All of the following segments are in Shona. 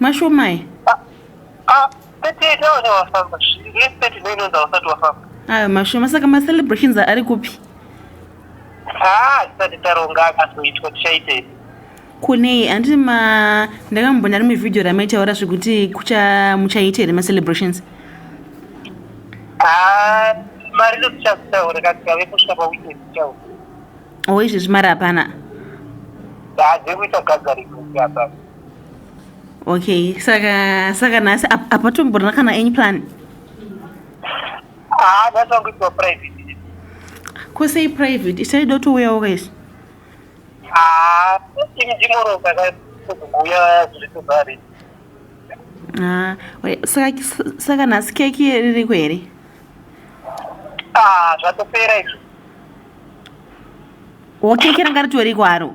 Mashomai. Ah, ah, Ayo mashoma saka ma celebrations ari kupi? Ah, tisati taronga akazoitwa tichaitei. Kunei anditi ma ndakambona rimwe video ramaitaura zvekuti kucha muchaita here ma celebrations? Ah, mari ndotichazitaura katikave kusvika pa weekend tichaura. Oh, izvezvi mari hapana. Ah, dzekuita gathering hapana. okay saka saka nhasi apatomborina kana any plan ah, ko sei private isai dotouyawo kaisi ah, ah, saka nhasi keki ririko here zvatopera izvo wo keki ranga ritoriko haro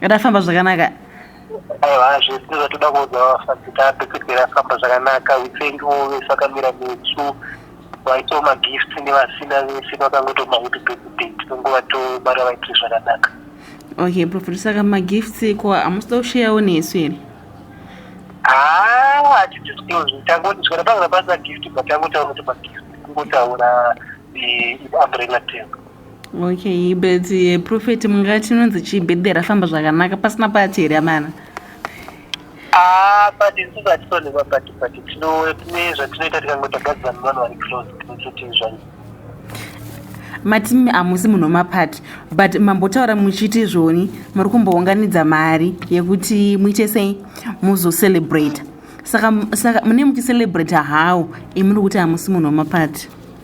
Rafamba zvakanaka. Aiwa zve tinoda toda kuudza vafambi tape kuti rafamba zvakanaka we thank you always vakamira nesu vaitawo magift nevasina vese vakangoto mahappy birthday tinongova tobara vaitire zvakanaka. Okay prophet saka magifts ko hamusida kusheyawo nesu here? Haa hatidisclose tangoti zvikana pangana pasina gift but tangotaura kuti magift kungotaura umbrella term. okay but uh, prophet munga chinonzi chii birthday rafamba zvakanaka pasina pati here amana pati isusu hatitoonekwa pati pati tine zvatinoita tikangotagadzira nevanhu vari close kuti zvai matimi hamusi munhu wemapati but mambotaura muchiti izvoni muri kumbounganidza mari yekuti muite sei muzocelebrate saka saka mune muchicelebrate how imuri kuti hamusi munhu wemapati